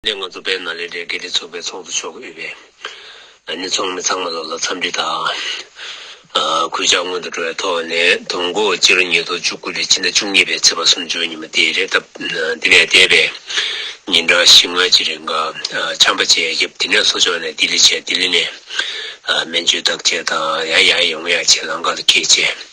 ལས་ང་ཚོ་བེད་ན་ལས་འབྲས་དགེ་ལེགས་ཚོགས་པའི་ཚོགས་གཙོ་མཆོག་གི་དབུས་པའི་ནས་ཚོགས་མི་ཚང་མ་ལ་ལ་འཚམས་འདྲི་དང། གུས་ཕྱག་སྔོན་དུ་འགྲོ་བའི་ཐོག་ནས་དུམ་འགོ་སྤྱི་ལོ་ཉིས་སྟོང་བཅུ་དགུ་ལས་ཕྱི་ཟླ་བཅུ་གཉིས་པའི་ཚེས་པ་སུམ་ཅུའི་ཉིན་མོ་དེ་རེད་སྟབས་འདི་ནས་འདས་པའི་ཉིན་གྲངས་བཞི་ལྔ་གཅིག་རིང་ཀ་ཆམ་པ་བཅས་རྒྱབ་དེ་ནས་གསོ་སྦྱོང་ནས་ལྡི་ལི་བྱས་ལྡི་ལི་ནས་སྨན་བཅོས་བརྟག་དཔྱད་དང་ཡང་ཡང་ཡོང་ཡང་བྱས་ལང་ཀ་ལ་སྐྱེལ་བྱས།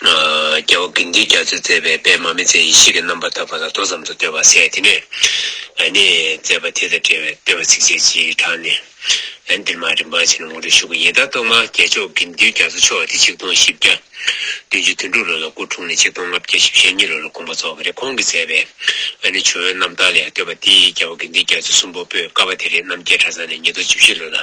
རྒྱལ་བ་དགེ་འདུན་རྒྱ་མཚོས་མཛད་པའི་པད་མ་མི་ཚེ་ཡེ་ཤེས་ཀྱི་རྣམ་པར་དག་པ་ལ་མདོ་ཙམ་དུ་བསྟོད་པར་གསལ། དེ་ནས་ནི་མཛད་པ་དེ་དང་འབྲེལ་བའི་བསྟོད་པ་ཚིགས་བཅད་ཅིག་དྲངས་ནས། འདིར་མ་རིག་འབའ་ཞིག་ལ་ངོ་སྤྲོད་ཞུ་གི་ཡིན། བདག་གཏོར་མ་རྒྱལ་མཆོག་དགེ་འདུན་རྒྱ་མཚོ་མཆོག་འདི་ཆིག་སྟོང་བཞི་བརྒྱ། བདུན་ཅུ་དོན་དྲུག་ལོ་ལ་སྐུ་འཁྲུངས་ནས་ཆིག་སྟོང་ལྔ་བརྒྱ་བཞི་བཞི་ཉིས་ལོ་ལ་དགོངས་པ་རྫོགས་པ་རེད་ཁོང་གིས་མཛད་པའི་ཨ་ནི་ཆུ་བོའི་རྣམ་ཐར་ལས་ཡང་བསྟོད་པ་དེ་ཡི་རྒྱལ་པོ་དགེ་འདུན་རྒྱ་མཚོ་གསུམ་པོ་པོས་བཀའ་བ་དེ་རེད་རྣམ་རྒྱལ་གྲྭ་ཚང་ནས་ཉིས་སྟོང་བཅུ་བཞི་ལོ་ན་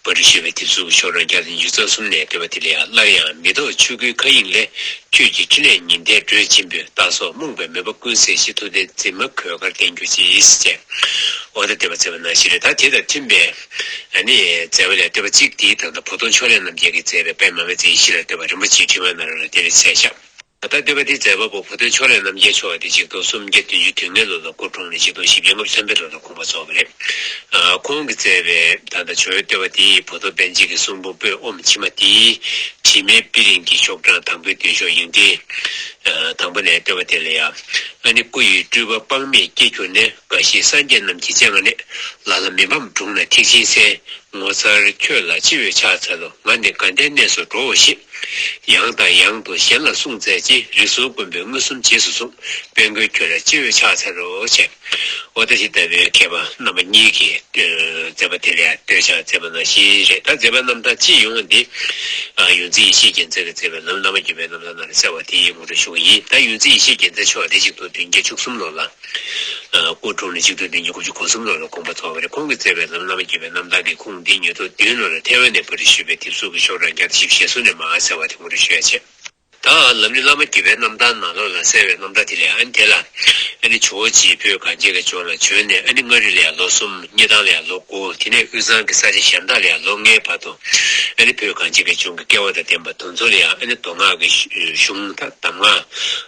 བ་རི་ཞེས་པའི་དེབ་གཟུགས་ཤོག་གྲངས་བརྒྱ་དང་བཅུ་རྩ་གསུམ་ནས་བསྟོད་པ་དེ་ལས་ཡང་སླར་ཡང་མི་རྟོག་ཆོས་སྐུའི་མཁའ་དབྱིངས་ལས། ཁྱོད་ཀྱི་ཕྲིན་ལས་ཉི་ཟླའི་འགྲོས་ཆེན་པོས་རྟག་སོགས་རྨོངས་པའི་མོས་པ་ཀུན་བསལ་ཞེས་ཐུགས་རྟེན་འཛིན་མ་གོས་དཀར་བསྟན་གྱུར་ཅིག་ཅེས་བྱས། ཨོ་ད་དེ་བ་ཚེ་བ་ན་ཤི་རེ་ད་དེ་དང་མཐུན་པའི། ཨ་ནི། མཛད་པ་ལས་བསྟོད་པ་གཅིག་དེའི་དང་ད་བུ་སྟོང་ཕྱོགས་ལས་རྣམ་རྒྱལ་གྱིས་མཛད་པའི་པདྨ་མའི་མཛད་ཡེ་ཤེས་ལ་བསྟོད་པ་རིན་པོ་ཆེའི་ཕྲེང་བའི་ནང་རོལ་ལ་དེ་ལས་ཚད་བཞག། ད་ལྟ་སྡེ་པ་འདིའི་མཛད་པ་པོ་བུ་སྟོན་ཕྱོགས་ལས་རྣམ་རྒྱལ་མཆོག་ཨ་ཏི་གཅིག་སྟོང་སུམ་བརྒྱ་བདུན་ཅུ་དུས་མེ་ལོ་ལ་སྐུ་འཁྲུངས་ནས་གཅིག་སྟོང་བཞི་བརྒྱ་ལྔ་བཅུ་ཚན་པའི་ལོ་ལ་འཁོངས་པ་རྫོགས་པ་རེད། ཁོང་གིས་བསྩལ་པའི་ད་ལྟ་བྱོན་ཡོད་སྡེ་པ་དེའི་བུ་སྟོབས་ལྡན་གཅིག་གི་གསུང་འབུམ་པོད་ཨོམ་ཕྱི་མ་དེ། དྲི་མེད་པི་རིང་གི་ཤོག་གྲངས་དང་པོའི་མདུན་ཤོག་ཡིན་ཏེ། དང་པོ་ནས་སྡེ་པ་དེ་ལ་ཡ། ཨ་ནི་སྐུ་ཡི་སྤྲུལ་པ་དཔག་མེད་སྐྱེས་གྱུར་ནས་དགའ་བཞི་སངས་རྒྱས་རྣམས་ཀྱི་སྤྱན་སྔ་ནས། ལ་ལ་མི་ཕམ་སྒྲུང་ན་ཐེག་ཆེན་གསན། ངོ་མཚར་ཁྱོད་ལ་ཅི་འོས་ཕྱག་འཚལ་ལོ་ང་ནི་དགའ་ལྡན་གནས་སུ་འགྲོའོ་ཞེས། ཡང་དང་ཡང་དུ་གཞན་ལ་གསུངས་མཛད་ཅིང་རིགས་གཟུགས་མགོན་པོའི་མངོན་སུམ་རྗེས་སུ་བཟུང་དཔལ་མགོན་ཁྱོད་ལ་སྤྱི་བོས་ཕྱག་འཚལ་ལོ་བྱས། ཨོ་ད་ཤི་ད་བུའི་མཁས་པ་རྣམ་པ་གཉིས་ཀྱིས་མཛད་པ་དེ་ལས་སྟོད་ཕྱག་མཛད་པ་ནང་བཞིན་རེད་ད་མཛད་པ་རྣམ་དག་ཅི་ཡོང་བ་འདི། ཡུན་རྩི་ཡེ་ཤེས་རྒྱལ་མཚན་གྱིས་མཛད་པའི་ལམ་བླ་མ་བརྒྱུད་པའི་རྣམ་ཐར་ནང་ནས་གསལ་བ་དེའི་ངོ་སྤྲོད་ཞུ་བ་ཡིན་ད་ཡུན་རྩི་ཡེ་ཤེས་རྒྱལ་མཚན་མཆོག་འདི་གཅིག་ཏུ་བདུན་བརྒྱ་བཅུ་གསུམ་ལོ་ལ། སྐུ་གྲོངས་ནས་ཆིག་སྟོང་དང་ཉི་ཤུ་དགུ་གསུམ་ལོ་ལ་དགོངས་པ་ཐོབ་པ་རེད་ཁོང་གིས་བསྩལ་བའི་ལམ་བླ་མ་དགྱེས་པའི་རྣམ་དག་གིས་ཁུངས་འདི་ཉིད་ཐོག་བདུན་ལོ་ལ་ཐའེ་ཝན་ནས་བོད་དུ་ཞུས་པའི་དེབ་གཟུགས་ཀྱི་ཤོག་གྲངས་བརྒྱ་དང་བཞི་བཞི་བཞི་སོ་ནས་མ་གསལ་བ་དེ་ངོ་སྤྲོད་ཞུ་ཡ་བྱས། ད་ལམ་ནི་བླ་མ་དགྱེས་པའི་རྣམ་དག་ནང་ལོགས་ལ་གསལ་བའི་རྣམ་དག་དེ་ལས་ཨ་ནི་དེ་ལ་ཨ་ནི་ཇོ་བོ་རྗེས་བོད་གངས་ཅན་གྱི་ལྗོངས་ལ་བྱོན་ནས་ཨ་ནི་མངའ་རིས་ལ་ཡང་ལོ་གསུམ་རྙེད་ཐང་ལ་ཡང་ལོ་དགུ་དེ་ནས་དབུས་གཙང་གི་ས་ཆ་གཞན་དག་ལ་ཡང་ལོ་ལྔའི་བར་དུ་ཨ་ནི་བོད་གངས་ཅན་གྱི་ལྗོངས་ཀྱི་སྐལ་བ་དང་ལྡན་པ་དུང་མཚོ་ལ་ཡང་ཨ་ནི་མདོ་སྔགས་ཀྱི་གཞུང་དམ་ངག་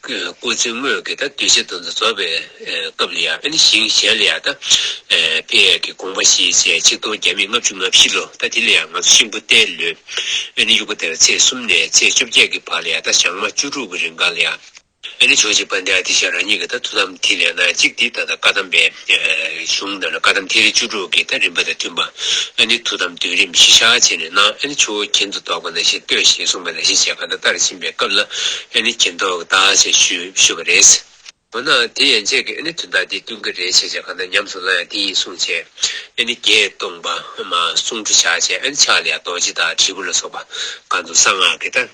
སྐུ་ཚེ་དངོས་ཀྱི་ད་གདུལ་བྱ་དུ་རྫོགས་པའི་སྐབས་ལ་ཡང་ཨ་ནི་ཞིང་གཞན་ལ་ཡང་ད་དཔལ་ཡབ་ཀྱི་དགོངས་པ་བཞིན་བྱས་ཆིག་སྟོང་བརྒྱ་མེད་ལྔ་བཅུ་ང་བཞི་ལོ་ད་དེ་ལ་ཡང་ང་ཚོ་ཤིང་བུ་སྟེ་ལོས་ཨ་ནི་དབྱུག་པ་དེར་ཚེས་གསུམ་ནས་ཚེས་བཅོ་བརྒྱད་ཀྱི་བར་ལ་ཡང་ད་ཞག་མ་བཅུ་དྲུག་གི་རིང་འགའ་ལ་ཡང་ཨ་ནི་ཕྱོགས་གཅིག་པ་འདི་ཨ་ཏི་ཤ་རང་ཉིད་ཀྱི་ད་ཐུགས་དམ་ཐིག་ལེ་སྣ་གཅིག་འདི་ད་ད་བཀའ་གདམས་པའི། གཞུང་རྣམས་ལ་བཀའ་དམ་ཐིག་ལེ་བཅུ་དྲུག་གི་ཐ་རིམ་པ་དང་མཐུན་པ་ཨ་ནི་ཐུགས་དམ་བདུན་རིམ་བཞི་ཕྱག་བྱས་ནས་གནང་ཨ་ནི་ཆུ་བོ་གྱེན་དུ་ལྡོག་པ་ན་ཤིང་བརྟོལ་ཞེས་གསུངས་པ་ལ་ཤིང་བྱས་ག་ད་ལྟར་ཕྱིན་པའི་སྐབས་ལ་ཨ་ནི་གྱེན་ལྡོག་གདའ་ཞེས་ཞུས་པ་རེད། འོ་ན་དེ་ཡན་ཆད་ཀྱི་ཨ་ནི་དུས་འདའ་སྟེ་བསྟུན་གྱི་རེད་ཞེས་བྱས་ག་ད་ཉམས་སུ་བླང་ཡང་དེ་ཡིན་གསུངས་བྱས་ཨ་ནི་བརྒྱད་སྟོང་པདྨ་གསུང་འཕྲོ་ཕྱག་བྱས་ཨ་ནི་ཕྱག་ལས་ཡང་རྡོ་རྗེ་དང་དྲིལ་བུ་ལ་སོགས་པ་གང་དུ་གསང་སྔགས་ཀྱི་ཐ།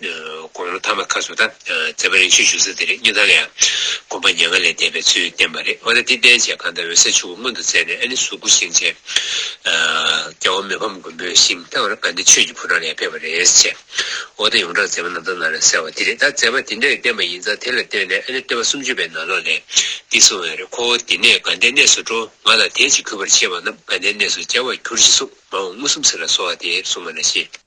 དགོངས་ཀླུ་ཐ་མ་ཁ་སོ་ད་ཛེ་བ་རིག་བྱེད་ཞུ་ས་དེ་རིགས་སྙིང་ཐག་ལ་ཡང་དགོངས་པ་ཉེ་ང་ལས་འདས་པའི་ཚུལ་བསྟན་པ་རེད་འོ་ན་འདི་བསྟན་བྱས་གང་ལྟར་འོད་གསལ་ཆུ་བོ་མངོན་དུ་མཛད་ནས་ཨ་ནི་གཟུགས་སྐུ་བཞེངས་བྱས། རྒྱལ་བ་མི་ཕམ་མགོན་པོའི་ཞིང་ཐང་ར་ག་འདི་ཆོས་ཀྱི་ཕོ་བྲང་ལས་ཕེབས་པ་རེད་བྱས། འོ་ད་ཡོངས་གྲགས་ཛེ་བ་ནང་ད་ནང་ལ་གསལ་བ་འདི་རེད་ད་ཛེ་བ་འདི་འདྲ་ཡི་བསྟན་པ་ཡིན་ཙང་དེ་ལ་བརྟེན་ནས་ཨ་ནི་སྟོད་པ་སུམ་ཅུ་པའི་ནང་ལོགས་ལས་འདི་གསུང་བས་རེད་ཁོ་བོ་འདི་ནས་དགའ་ལྡན་གནས་སུ་འགྲོ་ང་ལ་དལ་གྱིས་གུས་པར་བྱེད་པ་རྣམས་དགའ་ལྡན་གནས་སུ་སྐྱེ་བར་གྱུར་ཅིག་གསུངས་མ་འོངས་མངོན་སུམ་ཚུལ་ལ་གསོལ་བ་འདེབས་གསུངས་པ་ན་ཤེས།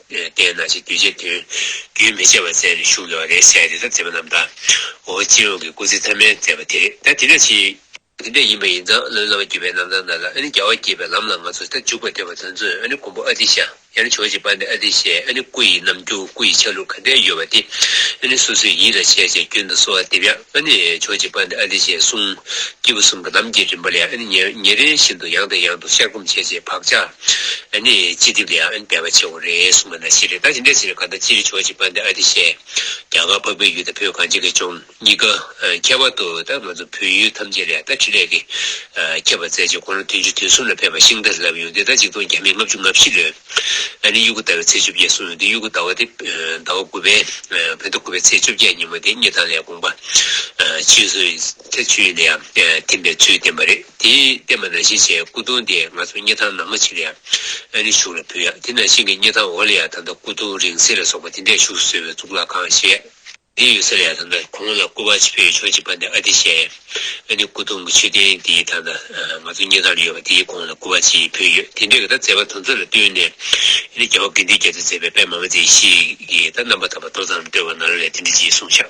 བསྟན་ན་ཅིག་གདུལ་བྱའི་དོན། རྒྱུན་མི་འཆད་པར་མཛད་ནས་བཞུགས་གནང་བ་རེད་ཟེར་དེ་ལྟར་མཛད་པ་རྣམས་དང་འོ་སྤྱི་ཡོངས་ཀྱི་སྐུ་ཚེ་ཐ་མལ་མཛད་པ་དེ་རེད་ད་དེ་ན་ཅིག། དེ་འདྲ་ཡིན་པ་ཡིན་ཙང་བློའི་བླ་མ་བརྒྱུད་པའི་རྣམ་ཐར་ནང་ལ་ཨ་ནི་རྒྱལ་བ་དགྱེས་པའི་ལམ་ལ་ང་ཚོ་ད་འཇུག་པར་འདོད་པ་དོན་མཚོན་ཨ་ནི་མགོན་པོ་ཨ་ཏི་ཤཱ་ཡ་ནི་ཕྱོགས་གཅིག་པ་འདི་ཨ་ཏི་ཤའི་ཨ་ནི་སྐུ་ཡི་རྣམ་འགྱུར་སྐུ་ཡི་ཆ་ལུགས་ག་འདྲའི་ཡོད་པ་དེ་ཨ་ནི་སོ་སོའི་ཡིད་ལ་བྱས་བྱས་རྒྱུན་དུ་གསོལ་བ་འདེབས་ཡ་ཨ་ནི་ཕྱོགས་གཅིག་པ་འདི་ཨ་ཏི་ཤའི་གསུང། སྐྱེས་བུ་གསུམ་གྱི་ལམ་གྱི་རིམ་པ་ལས་ཨ་ནི་ཉེ་རེ་བཞིན་དུ་ཡང་དང་ཡང་དུ་ཤར་སྒོམ་བྱས་བྱས་བག་ཆགས། ཨ་ནི་ཅི་སྟེ་དེ་ཡང་ཨན་སྤེལ་བ་ཆེ་བོ་རེད་གསུངས་པ་ན་ཤི་རེ་ད་ཅི་འདྲས་ཤི་རེ་གང་ལྟར་ཅི་རེ་ཆོག་ཅིག་པ་འདི་ཨ་དེ་བཤད། རྒྱ་གར་འཕགས་པའི་ཡུལ་དང་བོད་གངས་ཅན་གྱི་ལྗོངས་གཉིས་ཀ་ཁྱད་པར་དུ་ད་ང་ཚོ་བོད་ཡུལ་ཐམས་ཅད་ལས་ད་ཁྲི་ལས་ཀྱིས་ཁྱབ་པར་མཛད་ཅིག་ཁོང་རང་དུས་མཇུག་དུས་གསུམ་ལ་ཕེབས་པར་ཤིང་རྟ་རེ་ལབ་ཡོང་དེ་ད་ཅིག་སྟོང་བརྒྱ་མེད་ལྔ་བཅུ་ང་བཞི་ལོའི་ཨ་ནི་དབྱུག་གུ་ཟླ་བའི་ཚེས་བཅོ་བརྒྱད་གསུངས་ཡོང་དེ་དབྱུག་གུ་ཟླ་བ་དེ་ཟླ་བ་དགུ་པའི་བོད་ཟླ་དགུ་པའི་ཚེས་བཅོ་བརྒྱད་ཉིན་མོ་དེ་སྙེ་ཐང་ལས་དགོངས་པ་ཇི་བཞིན་ཐེ་ཆུས་ནས་ཡང་ཐིམ་པའི་ཚུལ་བསྟན་པ་རེད་དེ། བསྟན་པ་ན་ཤེས་བྱའི་སྐུ་གདུང་དེ་ང་ཚོ་སྙེ་ཐང་ནག་མོ་ཆེ་ལ་ཡང་ཨ་ནི་བཞུགས་ལ་ཕུལ་ཡ་དེ་ན་ཤིང་གི་སྙེ་ཐང་འོག་ལ་ཡང་ད་ལྟ་སྐུ་གདུང་རིང་བསྲེལ་ལ་སོགས་པ་དེ་འདྲས་བཞུགས་སུ་གསོལ་བའི་གཙུག་ལག་ཁང་བཞེས་ཡ་དེ་ཡོད་ས་ལ་ཡང་ད་ལྟ་གོང་ལ་སྐུ་བ་ཆེ་ཕོ་ཡོད་ཆོག་ཅིག་པ་འདི་ཨ་དེ་བཞེས་ཡ་ཨ་ནི་སྐུ་གདུང་གི་མཆོད་རྟེན་དེ་ད་ལྟ་ང་ཚོ་སྙེ་ཐང་ལ་ཡོད་པ་དེའི་གོང་ལ་སྐུ་བ་ཆེ་ཕོ་ཡོད་དེ་འདྲས་ཀྱི་ད་མཛད་པ་དོན་གཙོ་ལ་བསྟུན་ནས་ཨ་ནི་རྒྱལ་བ་དགེ་འདུན་རྒྱ་མཚོས་མཛད་པའི་པདྨ་མཛད་ཞིག་གིས་ད་རྣམ་པ་དམ་པ་ཏོ་ཙམ་སྤྲོས་པ་ན་ལ་ལས་དེ་འདྲས་ཀྱིས་གསུངས་བྱ།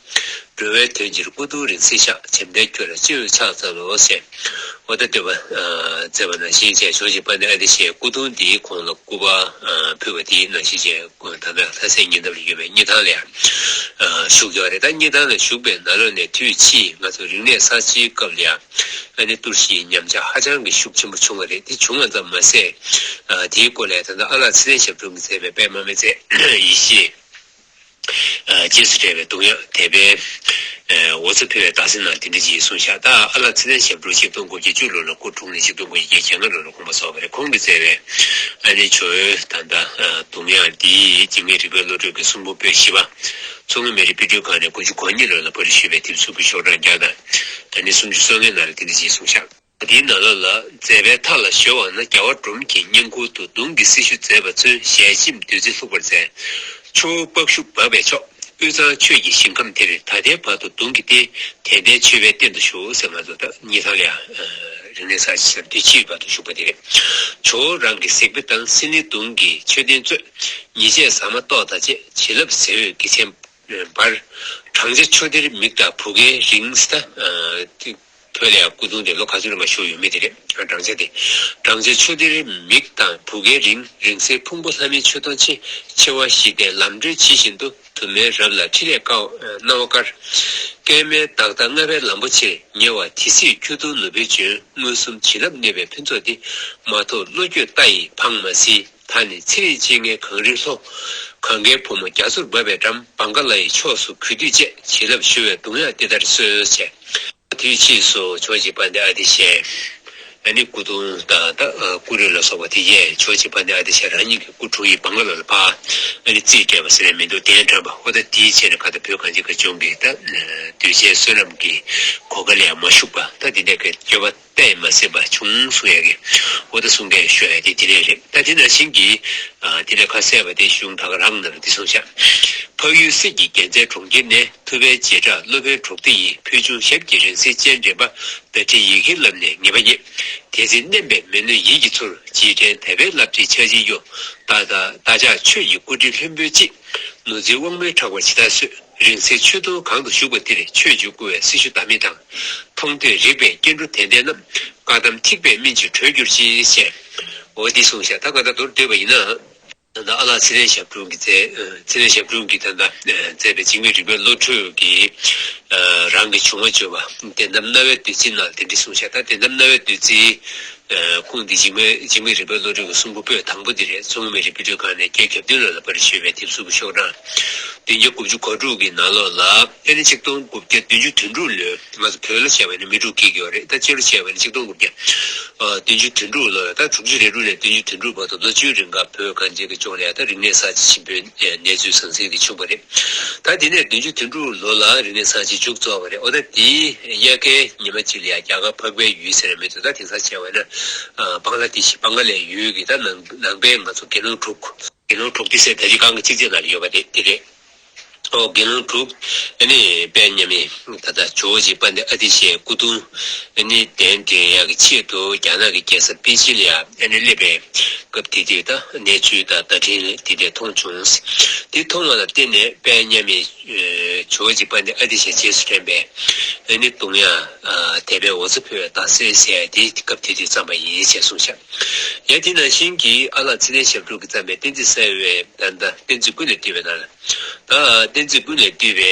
འགྲོ་བའི་དོན་ཕྱིར་སྐུ་གདུང་རིང་བསྲེལ་བཤགས། བྱམས་དྲན་ཁྱོད་ལ་སྤྱི་བོས་ཕྱག་བཙལ་ལོ། ཞེས་ཨོ་ད་སྟོད་པ། བཙལ་བ་ནང་བཞིན་བཅས་ཕྱོགས་གཅིག་པ་ནས་ཨ་ཏི་ཤའི་སྐུ་གདུང་དེའི་གོང་ལ་སྐུ་པར་ཕུལ་བ་དེའི་ནང་བཞིན་བཅས་དམ་པའི་ལྷ་སའི་ཉེ་འདབས་ལ་ཡོད་པའི་སྙི་ཐང་ལས་བཞུགས་ཀྱང་རེད་ད་སྙི་ཐང་ལ་བཞུགས་པའི་ན་ལོ་ནས་དུས་ཕྱིས་ང་ཚོ་རིག་གནས་གསར་བརྗེའི་སྐབས་ལ་ཡང་ཨ་ནེ་ཏུར་ཤིའི་ཉམས་ཆག་ཧ་ཅང་གི་ཤུགས་ཆེན་པོ་བྱུང་བ་རེད་དེ་བྱུང་བ་ཙམ་མ་ཟད་དེའི་སྐོར་ལས་ད་ལྟ་ཨ་ལགས་ཚེ་བརྟན་ཞབས་དྲུང་གིས་མཛད་པའི་པདྨ་མེ་བཙའི་ཡེ་ཤེས། རྗེས་སུ་དྲན་བའི་གདུང་དབྱངས་དད་པའི་འོ་ཚོད་འཕེལ་བའི་རྟགས་མཚན་རྣམས་དེ་འདྲི་གཅིག་གསུང་བྱ། ད་ཨ་ལགས་ཚེ་བརྟན་ཞབས་བྲོ་ཆིག་སྟོང་དགུ་བརྒྱ་བཅུ་ལོ་ལ་སྐུ་འཁྲུངས་ནས་ཆིག་སྟོང་དགུ་བརྒྱ་བརྒྱད་ལྔ་ལོ་ལ་དགོངས་པ་རྫོགས་པ་རེད་ཁོང་གིས་བསྩལ་བའི་ཨ་ནེ་ཆོས་འོད་དང་འདྲ་གདུང་དབྱངས་འདི་འཇིགས་མེད་རིག་པའི་བློ་གྲོས་ཀྱི་གསུང་འབུམ་པོད་བཞི་པ། མཚོ་སྔོན་མི་རིགས་དཔེ་སྐྲུན་ཁང་ནས་དགུ་བཅུ་གོ་གཉིས་ལོ་ལ་པར་རིས་ཞུས་པའི་དེབ་གཟུགས་ཀྱི་ཤོག་གྲངས་བརྒྱ་དང་ད་ནི་སུམ་ཅུ་སོ་ལྔའི་ནང་ལ་དེ་འདྲི་གཅིག་གསུང་བྱ། འདིའི་ནཱ་ལ་ལ་མཛད་པའི་མཐའ་ལ་གཞོལ་བ་ན་རྒྱལ་བ་འབྲོམ་གྱི་བསྙེན་ཁུར་དུ་གདུང་གི་སྲི་ཞུ་མཛད་པ་མཚོན་ཞལ་གཅིག་བདུད་རྩི་ལྷུག་པར་མཛད། ཆུ་བོ་པགས་ཤུ་འབབ་པའི་ཕྱོགས་དབུས་ཚངས་ཆོས་ཀྱི་ཞིང་ཁམས་དེར་ད་ལྟའི་བར་དུ་གདུང་གི་རྟེན་དད་ལྡན་མཆོད་པའི་རྟེན་དུ་བཞུགས་ཟེར་ང་ཚོ་ད་ཉི་ཐང་ལིའང་རིང་ནས་ས་ཆེ་སར་དུས་ཕྱིས་བར་དུ་བཞུགས་པ་དེ་རེད། ཇོ་བོ་རང་གི་གཟིགས་དཔེ་དང་སྲིན་ལི་གདུང་གི་མཆོད་རྟེན་གཙོས། ཉེས་བྱས་ཟ་མ་ཏོག་དང་བཅས་བྱིན་རླབས་གཟི་འོད་དགེ་ཆེན། འབར། བགྲང་བྱ་ཆུ་གཏེར་མིག་དང་བུ་གའི་རིང། ས་བོད་ལ་སྐུ་གདུང་དེ་ལོ་ག་ཚོད་རིང་བ་བཞུགས་ཡོད་མེད་དེ་རེད་བགྲང་བྱ་དེ། བགྲང་བྱ་ཆུ་གཏེར་མིག་དང་བུ་གའི་རིང་རིང་སའི་ཕུང་པོ་ལྷ་མིའི་མཆོད་སྡོང་ཆེ་ཆེ་བ་བཞི་སྟེ་ལམ་བགྲོད་ཇི་བཞིན་དུ་དུ་མའི་རབས་ལ་ཁྲི་ལས་ཀའོ་སྣང་བ་དཀར། སྐལ་དམན་བདག་དང་མངའ་བའི་ལམ་པོ་ཆེར་ཉེ་བ་དེ་སྲིད་ཁྱུ་གདུང་ནུབ་བེ་ཅོན་མངོན་སུམ་བྱིན་རླབས་གནས་པའི་ཕུན་ཚོགས་འདི་མ་ཐོབ་བློ་འགྱོད་རྟ་ཡིས་འཕངས་མ་སྲིད། ད་ནི་ཚེ་རིང་སྤྱན་སྔའི་གངས་རི་ལྷོ། གངྒཱའི་བུ་མོ་རྒྱ་མཚོར་འབབ་པའི་འགྲམ་བང་ག་ལ་ཡི་ཕྱོགས་སུ་གུས་འདུད་བཅས་བྱིན་རླབས་ཞུ་བའི་གདུང་དབྱངས་འདི་ལྟར་གསོལ་ཆེ། དུས་ཕྱིས་སུ་ཕྱོགས་གཅིག་པ་འདི་ཨ་ཏི་ཤའི། ཨ་ནི་སྐུ་གདུང་དང་ཏཱ་ཀུ་རི་ལ་སོགས་པ་དེ་ཡས་ཕྱོགས་གཅིག་པ་འདི་ཨ་ཏི་ཤ་རང་ཉིད་ཀྱི་སྐུ་དྲུང་ཡིག་བང་ག་ལ་ལ་འཕགས། ཨ་ནི་རྩིས་སྤྲད་པ་ཟེར་བའི་མིང་འདུག་གདན་དྲངས་པ་ཧོ་ད་ཏིའི་ཆེད་ནས་ག་ད་བོད་གངས་ཅན་གངས་ལྗོངས་ཀྱི་ད་གདུལ་བྱའི་བསོད་ནམས་ཀྱི་གོ་ག་ལ་ཡང་མ་ཞུགས་པ་ད་འདི་འདྲ་གི་སྐྱོ་བ་པས་མ་སྲིད་པ་བྱུང་གསུང་ཡ་གི། འོ་ད་གསུང་སྐད་ཤོད་ཡ་དེ་དེ་ལས་རེད་ད་དེ་ན་བྱིན་གྱིས། དེ་ལས་ཁ་གསལ་བ་དེ་གཞུང་དག་རང་ནང་བདེ་སྲུང་བྱ། འཕགས་ཡུལ་སྲིད་ཀྱི་རྒྱལ་མཚན་གྲོང་ཁྱེར་ནས་ཐུབ་པའི་རྗེས་བྲག་སློབ་དཔོན་གྲོགས་ཏི་ཡིས་ཕུལ་བྱུང་ཞབས་ཀྱི་རིང་བསྲེལ་སྤྱན་འདྲེན་པ་བརྡ་ཁྲིད་ཡི་གེ་བསླབས་ནས་ངེས་པ་རྙེད། དེ་ཚེ་བསྣན་པའི་མི་གནོད་ཡིད་ཀྱི་ཚུར་བགྱིས་དྲན་དད་པའི་རླབས་ཀྱིས་ཕྱག་བྱིན་གཡོ། བདག་ཅག་ཆོས་ཀྱི་སྐུ་དྲིན་ལྷུན་པོའི་དཔྱིད། ནོར་འཛིན་དབང་མོའི་ཕྲག་པར་ཇི་ལྟར་གསོས། རིང་བསྲེལ་ཆོས་འདུལ་གང་དུ་བཞུགས་པ་དེར་ཆོས་འབྱུང་བསྐུར་བའི་སྲི་ཞུ་དམ་མི་དང། མཐོང་ཐོས་རིག་པའི་སྐྱེ་འགྲོ་དད་ལྡན་རྣམས། བཀའ་གདམས་ཐིགས་པས་སྨིན་བྱེད་གྲོལ་གྱུར་ཅིག། ཅེས་འོ་འདི་གསུངས་ཤ་ད་ག་ད་མདོར་བསྡུས་པ་ཡིན་ན། ད་ལྟ་ཨ་ལགས་ཚེ་རིང་ཞབས་དྲུང་གིས་མཛད། ཚེ་རིང་ཞབས་དྲུང་གིས་ད་ལྟ་མཛད་པའི་འཇིགས་མེད་རིག་པའི་བློ་གྲོས་ཀྱི། རང་གི་བྱུང་བ་བརྗོད་པ། དད་དམ་རྣ་བའི་བདུད་རྩི་རྣམས་དེ་འདྲི་གསུངས་ཤ་ད་དད་དམ་རྣ་བའི་བདུད་རྩི། ཀུན་འདི་འཇིགས་མེད་རིག་པའི་བློ་གྲོས་ཀྱི་གསུང་པོད་པོད་དང་པོ་འདི་རེད་མཚོ་སྔོན་མི་རིགས་དཔེ་སྐྲུན་ཁང་ནས་རྒྱའི་གྱ་བདུན་ལ་ལ་པར་ཞེས་པའི་དེབ་གཟུགས་ཀྱི་ཤོག་གྲངས། བདུན་བརྒྱ་དགུ་བཅུ་གོ་དྲུག་གི་ནང་ལོགས་ལ། དཔེར་ན་ཆིག་སྟོང་དགུ་བརྒྱ་བདུན་ཅུ་དོན་དྲུག་ལོའི་ང་ཚོ་བོད་ལོ་བྱ་བའི་ནི་མི་དྲུག་སྐྱེས་ཀྱི་རེད་ད་སྤྱི་ལོ་བྱ་བའི་ནི་ཆིག་སྟོང་དགུ་བརྒྱ་བདུན་ཅུ་དོན་དྲུག་ལོ་རེད་ད་དྲུག་ཅུ་རེ་དྲུག་ནས་བདུན་ཅུ་དོན་དྲུག་བར་དུ་ལོ་བཅུའི་རིང་ཁ་བོད་གངས་ཅན་གྱི་ལྗོངས་ལ་ཡ་ད་རིག་གནས་གསར་བརྗེ་ཆེན་པོའི་གནས་ཚུལ་ཟང་ཟིང་དེ་བྱུང་བ་རེད། ད་དེ་ནས་བདུན་ཅུ་དོན་དྲུག་ལོ་ལ་རིག་གནས་ཚང་གཅིག་འཇུག་རྩོ་བ་རེད་འོ་ད་དེའི་དབྱར་ཁའི་ཉི་མ་གཅིག་ལ་ཡང་རྒྱ་གར་འཕགས་པའི་ཡུལ་ཟེར་ར་མེད་དོ་ད་དེང་སང་བྱས་བས་ན་བང་ལ་དེ་ཤི་བང་ག་ལའི་ཡུལ་གི་ད་ནང་པའི་ང་ཚོ་དགེ་སློང་དྲུག། དགེ་སློང་དྲུག་དེ་སའི་ད་རི་སྒང་གི་གཅིག་རྩེག་ན་ཡོད་པ་རེད་དེ་རེད། ཨོ་དགེ་སློང་དྲུག། ཨ་ནི་དཔལ་མཉམ་ཡིན། ད་ལྟ་ཇོ་བོ་རྗེ་པཱ་ནི་ཨ་ཏི་ཤའི་སྐུ་གདུང་ནི་གདན་འདྲེན་ཡག་གི་ཆེད་དུ་རྒྱ་ནག་གི་རྒྱལ་ས་པེ་ཅིན་ལ་ནས་སླེབས་པའི་སྐབས་དེ་དུས་ད་གནས་ཚུལ་དང་བརྡ་འཕྲིན་དེ་འདྲས་མཐོང་བྱུང། དེ་མཐོང་བ་ལ་བརྟེན་ནས་དཔལ་མཉམ་མེད་ཇོ་བོ་རྗེ་པཱ་ནི་ཨ་ཏི་ཤའི་རྗེས་སུ་དྲན་པའི་ནི་གདུང་ཡང་དད་པའི་འོ་ཚོད་ཕུལ་བའི་རྡ་སའི་ཟས་དེ་སྐབས་དེ་དུས་བརྩམས་པ་ཡིན་ཞེས་གསུངས། ཡང་དེ་ནང་བཞིན་གྱི་ཨ་ལགས་ཚེ་ལྡན་ཞབས་དྲུང་གིས་བརྩམས་པའི་བསྟན་རྩིས་གསལ་བའི་བརྡ་བཏགས་བསྟན་རྩིས་ཀུན་ལས་བཏུས་པའི་ནང་ལ། ད་བསྟན་རྩིས་ཀུན་ལས་བཏུས་པའི་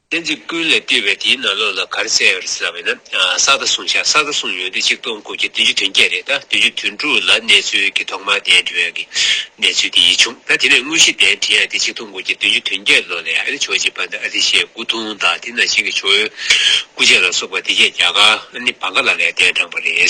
ལྷན་ཅིག་ཀུན་ལས་བཏུས་པའི་དེའི་ནང་ལོགས་ལ་གར་གསལ་བར་བསམ་བས་ན་གསག་དང་གསུང་བྱ་གསག་དང་གསུང་ཡོན་ཏན་གཅིག་སྟོང་དགུ་བརྒྱ་བདུན་ཅུ་དོན་བརྒྱད་རེད་ད་བདུན་ཅུ་དོན་དྲུག་ལ་གནས་ཚུལ་གྱི་ཐོག་མར་གདན་བྲི་བའི་གི་གནས་ཚུལ་དེ་ཡིད་བྱུང་ད་དེ་ནས་དངོས་གཞི་གདན་བྲི་ཡང་དེ་གཅིག་སྟོང་དགུ་བརྒྱ་བདུན་ཅུ་དོན་བརྒྱད་ལོ་ལས་ཨ་ཏི་ཆོས་རྗེ་པནྡ་ཨ་ཏི་ཤའི་སྐུ་གདུང་དང་དེ་ནང་བཞིན་གྱི་ཆོས་ཡོན་སྐུ་ཆས་ལ་སོགས་པ་དེ་བརྒྱད་བརྒྱ་ག་ནི་བ་ག་ལ་ལས་གདན་དྲངས་པ་རེད།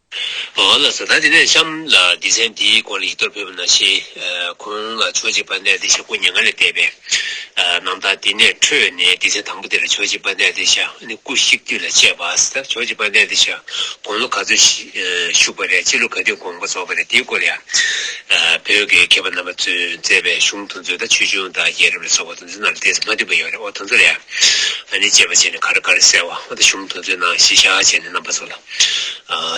ང་ལ་བཟའ་ཟླ་དེ་ནས་གཤམ་ལ་སྡེ་ཚན་དེའི་སྐོར་ལ་ཡིག་ཐོག་ཕེབས་པ་ན་ཤེས། ཁོང་ལ་ཕྱོགས་གཅིག་པ་གནས་ཏེ་ཤ་ཁུ་ཉེ་ང་ལས་བལྟས་པས། ནང་ད་དེ་ནས་འཕྲོས་ནས་སྡེ་ཚན་དང་པོ་དེ་ལ་ཕྱོགས་གཅིག་པ་གནས་ཏེ་ཤ་ཁུ་བཤིག་དུས་ལ་དཔྱད་པ། ཕྱོགས་གཅིག་པ་གནས་ཏེ་ཤ་དགོང་ལོ་ག་ཚོད་བཞུགས་པ་རེད་ཕྱི་ལོ་ག་དུས་དགོང་པ་རྫོགས་པ་རེད་དེའི་སྐོར་ཡང། བོད་དགེའི་མཁས་པ་རྣམ་པ་ཚོས་མཛད་པའི་གཞུང་དུ་མཛོད་དང་ཆོས་འབྱུང་དང་རྒྱལ་རབས་ལ་སོགས་པ་དུ་མཛོད་ནང་ལ་དེ་ཚོ་མ་འདུས་པ་ཡོད་རེད་འོ་དོ་ཚོ་རེད་ཨ་ནི་དཔྱད་པ་བྱས་ནས་ག་རེ་ག་རེ་གསལ་བ་འོ་ད་གཞུང་དུ་མཛོད་ནང་གཞི་བཞག་བྱས་ནས་རྣམ་པ་ཚོ་ལ།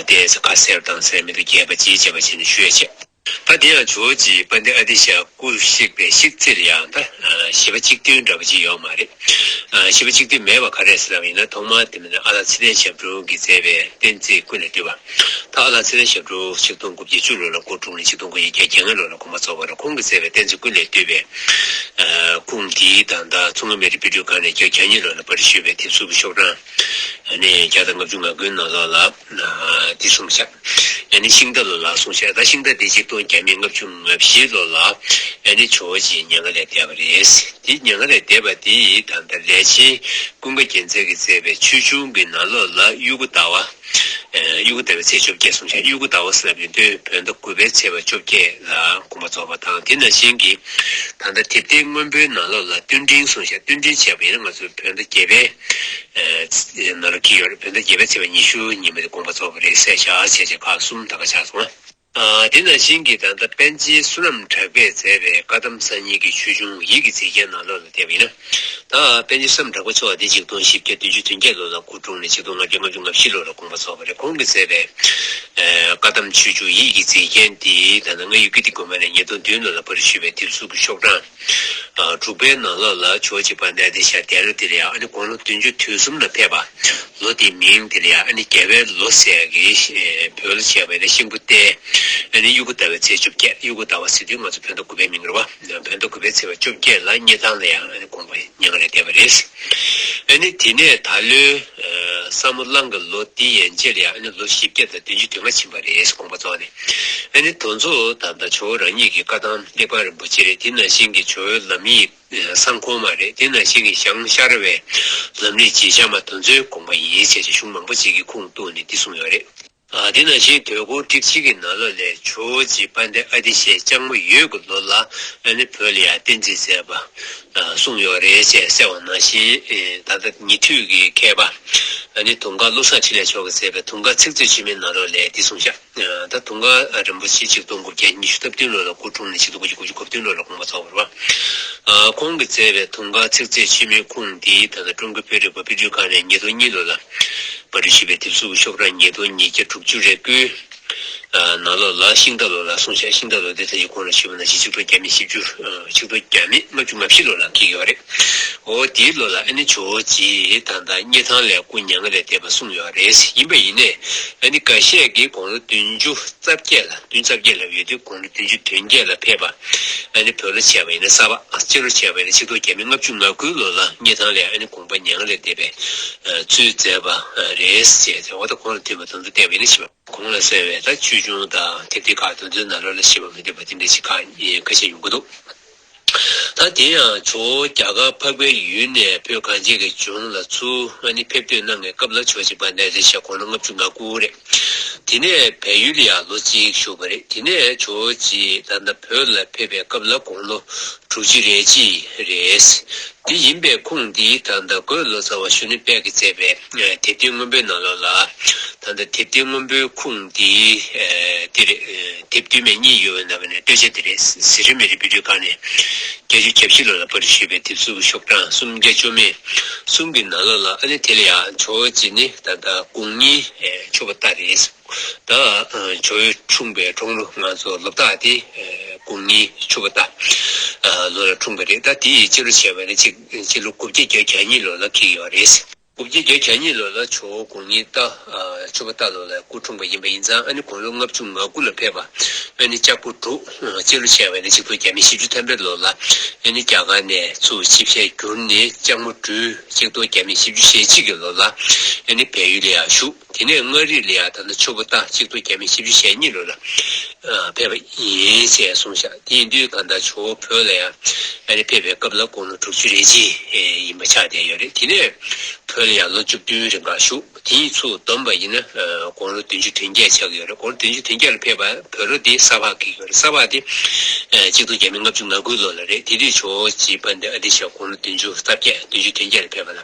དེ་ཡང་ས་ག་སེར་དང་སེར་མེ་དུ་རྒྱས་པ་ཅིའི་བྱེད་པ་བྱས་ནས་ཤོད་ཅེས་པ། པ་འདི་ཡང་ཇོ་ཇི་པ་འདི་ཨ་ཏི་ཤ་སྐུ་གཤེགས་པའི་གཤེགས་ཚིག་རེད་ཡང་ད་བྱིས་པ་གཅིག་བསྟུན་འདྲ་པོ་ཅིག་ཡོད་མ་རེད། བྱིས་པ་གཅིག་བསྟུན་མེད་པ་ག་རེད་ཟེར་ནའམ་ཡིན་ན་ཐོག་མར་དེ་མིན་ན་ཨ་ལགས་ཚེ་བརྟན་ཞབས་དྲུང་གིས་མཛད་པའི་བསྟན་རྩིས་ཀུན་ལས་བཏུས་པ། ད་ཨ་ལགས་ཚེ་བརྟན་ཞབས་དྲུང་ཆིག་སྟོང་དགུ་བརྒྱ་བཅུ་ལོ་ལ་སྐུ་འཁྲུངས་ནས་ཆིག་སྟོང་དགུ་ཡི་གྱ་གྱ་ལྔ་ལོ་ལ་དགོངས་པ་རྫོགས་པར་ཁོང་གིས་མཛད་པའི་བསྟན་རྩིས་ཀུན་ལས་བཏུས་པའི་ཁུངས་འདིའི་དང་ད་མཚོ་སྔོན་མེ་རི་པི་སྒྲུས་ཁང་ནས་གྱ་གྱ་གཉིས་ལོ་ལ་པར་རིས་ཞུས་པའི་དེབ་གཟུགས་ཀྱི་ཤོག་གྲངས། ཡང་ནི་བརྒྱ་དང་ལྔ་བཅུ་ང་དགུའི་ནང་ལོགས་ལ། འདི་གསུངས་བྱ། ཡང་ནི་ཤིང་རྟ་ལོ་ལ་གསུངས་བྱ། ད་ཤིང་རྟ་འདི་ཆིག་སྟོང་བརྒྱ་མེད་ལྔ་བཅུ་ང་བཞི་ལོ་ལ། ཡང་ནི་ཇོ་བོ་རྗེའི་སྙན་ངག་ལས་འདས་པ་རེད། དེ་སྙན་ངག་ལས་འདས་པ་འདི་ད་ལྟ་ལས་ཆེན་ཀུན་དགའ་རྒྱལ་མཚན་གྱིས་མཛད་པའི་ཆོས་འབྱུང་གི་ནང་ལོགས་ལ་དབྱུ་གུ་ཟླ་བ། དབྱུ་གུ་ཟླ་བའི་ཚེས་བཅོ་བརྒྱད་གསུངས་བྱ་དབྱུ་གུ་ཟླ་བ་ཟེར་བ་མི་འདོད་བོད་ཟླ་དགུ་པའི་ཚེས་པ་བཅོ་བརྒྱད་ལ་དགོངས་པ་རྫོགས་པ་དང་དེ་ན་གཞན་གྱིས་ད་ལྟ་དེབ་སྟེང་སྔོན་པོའི་ནང་ལོགས་ལ་ཏུན་འབྲིང་གསུངས་བྱ་ཏུན་འབྲིང་བྱས་པ་ཡིན་ན་ང་ཚོའི་བོད་ཟླ་བརྒྱད་པའི། ནང་ལ་འཁེལ་ཡོད་རེད་བོད་ཟླ་བརྒྱད་པའི་ཚེས་པ་ཉི་ཤུ་ཉིན་མོ་དེ་དགོངས་པ་རྫོགས་པ་རེད་བསད་བཞག་བྱས་རྗེས་ཁག་གསུམ་ད་ག་ཆགས་སོང་ཨ། དེ་ནང་བཞིན་གྱི་ད་ལྟ་པཎ་ཆེན་བསོད་ནམས་གྲགས་པས་མཛད་པའི་བཀའ་གདམས་གསང་སྙིང་གི་ཆོས་འབྱུང་ཡིད་ཀྱི་མཛེས་རྒྱན་ནང་ལོགས་ལ་བལྟས་པ་ཡིན་ན། ད་པཎ་ཆེན་བསོད་ནམས་གྲགས་པ་མཆོག་འདི་ཆིག་སྟོང་བཞི་བརྒྱ་བདུན་ཅུ་དོན་བརྒྱད་ལོ་ལ་སྐུ་བཀྲོངས་ནས་ཆིག་སྟོང་ལྔ་བརྒྱ་ལྔ་བཅུ་ང་བཞི་ལོ་ལ་དགོངས་པ་རྫོགས་པ་རེད་ཁོང་གི་མཛད་པའི། བཀའ་གདམས་ཆོས་འབྱུང་ཡིད་ཀྱི་མཛེས་རྒྱན་འདི་ད་ལྟ་ང་ཡུལ་གྱི་འདི་དགོན་པ་ནས་ཉིས་སྟོང་བདུན་ལོ་ལ་པར་བཤུས་པའི་དེབ་གཟུགས་ཀྱི་ཤོག་གྲངས། དྲུག་པའི་ནང་ལོགས་ལ་ཕྱོགས་གཅིག་པར་གནས་ཏེ་ཞག་བརྒྱད་ལོ་དེར་ཡང་ཨ་ནི་དགུང་ལོ་བདུན་ཅུ་དུས་གསུམ་ལ་ཕེབས་པ། ལོ་དེའི་མིང་དེར་ཡང་ཨ་ནི་རྒྱལ་བའི་ལོ་ཟེར་གི། བོད་ལོ་བྱས་པ་ཡིན་ན་ཤིང་བུ་སྟེ། ཨ་ནི་དབྱུག་གུ་ཟླ་བའི་ཚེས་བཅོ་བརྒྱད་དབྱུག་གུ་ཟླ་བ་ཟེར་དུས་ང་ཚོ་བོད་ཟླ་དགུ་པའི་མིང་རེད་བ། བོད་ཟླ་དགུ་པའི་ཚེས་བ་བཅོ་བརྒྱད་ལ་རྙེད་སྟངས་ལ་ཡང་ཨ་ནི་དགོངས་པ་མྱང་རེ་བསྡད་པ་རེད། ཨ་ནི་དེ་ནས་ད་ལོའི་ས་མོ་གླང་གི་ལོ་དེ་ཡན་ཆད་ལ་ཡང་ཨ་ནི་ལོ་བཞི་བརྒྱ་དང་བདུན་ཅུ་དུས་ལྔ་ཕྱིན་པ་རེད་དགོངས་པ་རྫོགས་ནས་ཨ་ནི་དོན་གཙོ་དང་ད་ཆོ་རང་ཉིད་ཀྱི་བཀའ་ཐང་ལེགས་པ་རིན་པོ་ཆེ་རེད་དེ་ནང་བཞིན་གྱི་ཇོ་བོའི་ལམ་ཡིག་གསང་གོང་མ་རེད་དེ་ནང་བཞིན་གྱི་ཞང་ཤར་བའི་ལམ་རིག་བྱེད་བྱམས་པ་དོན་གཙོའི་དགོངས་པ་ཡིན་ཞེས་བྱ་གཞུང་མང་པོ་ཅིག་གི་ཁུངས་གཏུགས་ནས་འདི་གསུངས་ཡོད་རེད། དེ་ནང་བཞིན་དུས་འཁོར་ཁྲིག་གཅིག་གི་ནང་ལོ་ལེགས་ཇོ་བོ་རྗེ་དཔལ་ལྡན་ཨ་ཏི་ཤས་ལྕགས་མོ་ཡོས་ཀྱི་ལོ་ལ་ཨ་ནི་བོད་ལ་ཡར་བསྟན་རྩིས་མཛད་པ་གསུངས་ཡོད་རེད་ཅེས་གསལ་བ་ནང་བཞིན་ད་ལྟ་ཉེ་དུས་ཀྱི་མཁས་པ་ཨ་ནི་དུང་དཀར་བློ་བཟང་འཕྲིན་ལས་མཆོག་གིས་མཛད་པའི་དུང་དཀར་ཚིག་མཛོད་ཕྱི་མའི་ནང་ལོ་ལེགས་འདི་གསུངས་བཞག། ད་དུང་མཁའ་འགྲོ་རིན་པོ་ཆེ་གཅིག་སྟོང་དགུ་བརྒྱ་ཉི་ཤུ་རྩ་བདུན་ལོ་ལ་སྐུ་འཁྲུངས་ནས་ཕྱི་དུ་སྐུ་ཕྱི་དགུ་བརྒྱ་གོ་བདུན་ལོ་ལ་དགོངས་པ་རྫོགས་པར་བ། ཁོང་གིས་བསྩལ་བའི་དུང་དཀར་ཚིག་མཛོད་ཆེན་མོའི་ཁུངས་འདི་ད་ལྟ་ཀྲུང་གོའི་བོད་རིག་པ་དཔེ་སྐྲུན་ཁང་ནས་ཉིས་སྟོང་གཉིས་ལོ་ལ་པར་སྐྲུན་ཞུས་པའི་དེབ་གཟུགས་ཀྱི་ཤོག་གྲངས་ཉིས་སྟོང་ཉིས་བརྒྱ་དྲུག་ཅུ་རེ་དགུའི་ནང་ལོ་ལ་ཤིང་རྟ་ལོ་ལ་གསུངས་བྱ་ཤིང་རྟ་ལོ་ཟླའི་མཚན་གྱི་ཁོངས་ལ་ཞུས་པ་ན་གཞི་ཆིག་སྟོང་བརྒྱ་མེད་བཞི་བཅུ་ཆིག་སྟོང་བརྒྱ་མེད་ལྔ་བཅུ་ང་བཞི་ལོ་ལ་ཁེལ་ཡོད་པ་རེད། འོ་དེའི་བློ་ལ་ཨ་ནི་ཇོ་བོ་རྗེས་ད་ལྟ་རྙེད་ཐང་ལས་སྐུ་མྱ་ངན་ལས་འདས་པ་གསུངས་ཡོད་རེད་ཡིན་པ་ཡིན་ནས་ཨ་ནི་འགའ་ཤས་ཀྱིས་དགུང་ལོ་བདུན་ཅུ་རྩ་བརྒྱད་ལ་བདུན་རྩ་བརྒྱད་ལ་ཡོད་དུས་དགུང་ལོ་བདུན་ཅུ་དོན་བརྒྱད་ལ་ཕེབས་པ་ཨ་ནི་བོད་ལོ་བྱས་པ་ཡིན་ན་གསར་པ་སྤྱི་ལོ་བྱས་པ་ཡིན་ན་ཕྱི་ལོ་རྒྱ་མི་ལྔ་བཅུ་ང་དགུའི་ལོ་ལ་རྙེད་ཐང་ལས་ཨ་ནི་དགོངས་པ་མྱ་ངན་ལས་འདས་པའི་ཚུལ་མཛད་པ་རེད་ཅེས་དེ་འོ་ད་ཁོང་ལ་མཐུན་པ་དོན་དུ་བསྟན་པ་ཡིན་ན་ཤེས་པ། གོང་ལ་གསལ་བའི་ད་ཆོས་འབྱུང་དང་དེབ་དེ་ཁག་དོན་དུ་ན་ལོ་ལ་ཤེས་པ་མི་འདོད་པ་དེ་འདྲ་ཞིག་ཁ་ཤས་ཡོང་གི་འདུག་ད་དེ་ཡང་ཇོ་བོ་རྒྱ་གར་འཕགས་པའི་ཡུལ་ནས་བོད་གངས་ཅན་གྱི་ལྗོངས་ལ་ཚུར་ང་ནི་ཕེབས་ཐོན་གནང་ངའི་སྐབས་ལ་ཆོས་བྱེད་པ་གནས་དེར་ཞག་གོང་ལོ་ལྔ་བཅུ་ང་དགུ་རེད། དེ་ནས་བལ་ཡུལ་ལ་ཡང་ལོ་གཅིག་བཞུགས་པ་རེད་དེ་ནས་ཇོ་བོ་རྗེས་ད་ལྟ་བོད་ལ་ཕེབས་པའི་སྐབས་ལ་དགོང་ལོ་དྲུག་བཅུ་རེ་གཅིག་རེད། དེ་ཡིན་པའི་ཁུངས་འདི་ད་ལྟ་དགོས་ལོ་ཙཱ་བ་ཞུ་ནི་དཔལ་གྱིས་མཛད་པའི། དེབ་སྟེགས་སྔོན་པོའི་ནང་ལོགས་ལ། ད་ལྟ་དེབ་སྟེགས་སྔོན་པོའི་ཁུངས་འདི། འདི་རེད། དེབ་བསྟུད་མའི་གཉིས་ཡོད་པའི་ནང་བའི་ནས་སྟོད་ཆ་དེ་རེད། གཟི་རིལ་མེ་རི་བི་ཏྲི་ཀ་ནས། བརྒྱ་ཅུ་གྱ་བཞི་ལོ་ལ་པར་རིས་ཞེས་པའི་དེབ་གཟུགས་ཀྱི་ཤོག་གྲངས་སུམ་བརྒྱ་བཅོ་མེད་གསུམ་གྱི་ནང་ལོགས་ལ་ཨ་ནི་དེ་ལ་ཡང་ཇོ་བོ་རྗེ་ནི་ད་ལྟ་དགུང་གཉིས་ཆོད་པ་ལྟར་རེད། ད་ཇོ་བོའི་འཁྲུངས་པའི་དྲུང་ལོ་ང་ཚོ་ལོ་བདག་དེ་དགུང་གཉིས་ཆོད་པ་ལྟར་ལོ་ལ་འཁྲུངས་པ་རེད་ད་དེའི་སྤྱི་ལོ་བྱས་པ་ནི་གཅིག། ཕྱི་ལོ་དགུ་བརྒྱ་བརྒྱད་གྱ་གཉིས་ལོ་ལ་ཁེལ་ཡོད་པ་རེད། དགུ་བརྒྱ་བརྒྱད་གྱ་གཉིས་ལོ་ལ་ཇོ་བོ་དགོངས་ཉིད་རྟ། ཆོས་པ་རྟ་ལོ་ལའི་སྐུ་འཁྲུངས་པ་ཡིན་པ་ཡིན་ཙང་ཨ་ནི་དགུང་ལོ་ལྔ་བཅུ་ང་དགུ་ལ་ཕེབས་པ། ཨ་ནི་ལྕགས་པོ་འབྲུག། སྤྱི་ལོ་ཆེ་བས་ན་ཆིག་སྟོང་བརྒྱད་མེད་བཞི་བཅུ་ཐམ་པའི་ལོ་ལ། ཨ་ནི་རྒྱ་གར་ནས་ཚུར་ཆིབས་ཞལ་བསྒྱུར་ནས་ལྕགས་མོ་སྦྲུལ། ཆིག་སྟོང་བརྒྱ་མེད་བཞི་བཅུ་ཞེ་གཅིག་གི་ལོ་ལ། ཨ་ནི་བལ་ཡུལ་ལ་ཡང་བཞུགས། དེ་ནས་མངའ་རིས་ལི་ཡ་དང་ནི་ཆུ་བོ་རྟ་གཅིག་ཏུ་རྒྱ་མི་བཞི་བཅུ་ཞེ་གཉིས་ལོད་ལ་ཕེབས་པ་ཡིན་ཞེས་གསུངས་ཤག་དེ་ཡིན་དུས་ད་ལྟ་ཆུ་བོ་བོད་ལ་ཡང་ཕེབས་པའི་སྐབས་ལ་དགུང་ལོ་དྲུག་ཅུ་རེ་གཅིག་ཡིན་པ་ཆགས་བསྡད་ཡོད་རེད་དེ་ནས་བོད་ལ་ཡང་ལོ་བཅུ་བདུན་རེ་འགའ་བཞུགས་དེ་ཡིན་ཚུལ་བསྡོམས་པ་ཡིན་ན་དགུང་ལོ་བདུན་ཅུ་དོན་བརྒྱད་ཆགས་ཀྱི་ཡོད་རེད་དགུང་ལོ་བདུན་ཅུ་དོན་བརྒྱད་ལ་ཕེབས་པ་བོད་རོ་དེ་ས་ཕག་གི་ཡོད་རེད་ས་ཕག་དེ་གཅིག་ཏུ་རྒྱ་མི་ལྔ་བཅུ་ང་དགུ་ལོད་ལ་རེད་དེ་དུས་ཆུ་བོ་བྱིས་པ་འདི་ཨ་དེ་ཞག་དགུང་ལོ་བདུན་ཅུ་རྩ་བརྒྱད་བདུན་ཅུ་དོན་བརྒྱད་ལ་ཕེབས་པ་ལ།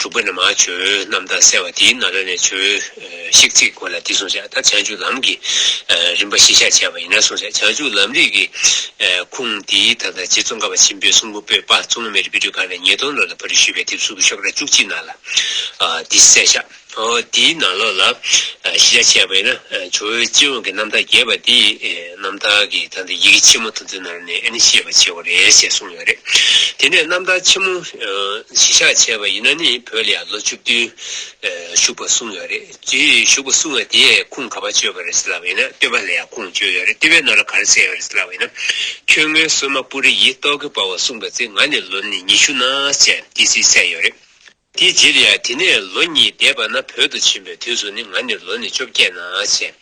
དྲུག་པ་ནི་མ་བྱོའི་རྣམ་ཐར་གསལ་བ་དེའི་ནཱ་ལནྡཱའི་ཆོས་ཤིག་ཚིག་གོ་ལ་འདི་གསུངས་བྱ་ད་བྱང་ཆུབ་ལམ་གྱི་རིམ་པ་བཞི་བཤད་བྱས་པ་ཡིན་ན་གསུངས་བྱ་བྱང་ཆུབ་ལམ་རིས་ཀྱི་ཁུངས་འདིའི་ད་ལྟ་རྗེ་ཙོང་ཁ་པ་ཆེན་པོའི་གསུང་འབུམ་པོད་དཔག་རྩོམ་ལུང་མེ་རི་པི་ཏྲུ་ཁ་ནས་ཉིས་སྟོང་ལོ་ལ་བོད་རིགས་ཞུས་པའི་དེབ་གཟུགས་ཀྱི་ཤོག་གྲྭ་བཅུ་གཅིག་ནང་ལ་འདི་གསལ་བཞག། དེའི་ནང་ལོགས་ལ་གཞི་རྒྱ་ཆེ་བ་ཡིན་ན་ཇོ་བོའི་སྤྱི་ཡོངས་ཀྱི་རྣམ་ཐར་རྒྱས་པ་འདི་རྣམ་ཐར་གྱི་ཐང་སྟེ་ཡི་གེ་ཆེན་མོ་དང་པོའི་ནང་ནས་ནི་ཤེས་པ་ཆེ་བ་རེད་ཅེས་གསུངས་ཡོད་རེད། དེ་ནས་རྣམ་ཐར་ཆེན་མོ་གཞི་བཞག་བྱས་པ་ཡིན་ན་ནི་བོད་ལ་ཡང་ལོ་བཅུ་བདུན་བཞུགས་པར་གསུངས་ཡོད་རེད། དེ་བཞུགས་པར་གསུངས་བ་དེས་ཁུངས་ག་བར་བཅོལ་བ་རེད་ཟེར་ལབ་པ་ཡིན་ན་བསྟོད་པ་ལ་ཡང་ཁུངས་བཅོལ་ཡོད་རེད་བསྟོད་པའི་ནང་ལ་ག་རེ་གསལ་ཡོད་རེད་ཟེར་ལབ་པ་ཡིན་ན། ཁྱོད་ངའི་གསོལ་མ་སྤུ་རི་ཡིས་རྟོག་གེ་སྤར་བ་གསུངས་པ་ཚེ་ང་ནི་ལོ་ནི་ཉི་ཤུ་ན་བཅས་ཏི་སེའི་སྲས་ཡོད་རེད། དེའི་རྗེས་ལ་དེ་ནས་ལོ་གཉིས་འདས་པ་ན་བོད་དུ་ཕྱིན་པའི་དུས་སུ་ནི་ང་ནི་ལོ་ནི་བཅོ་བརྒྱད་ན་བྱས།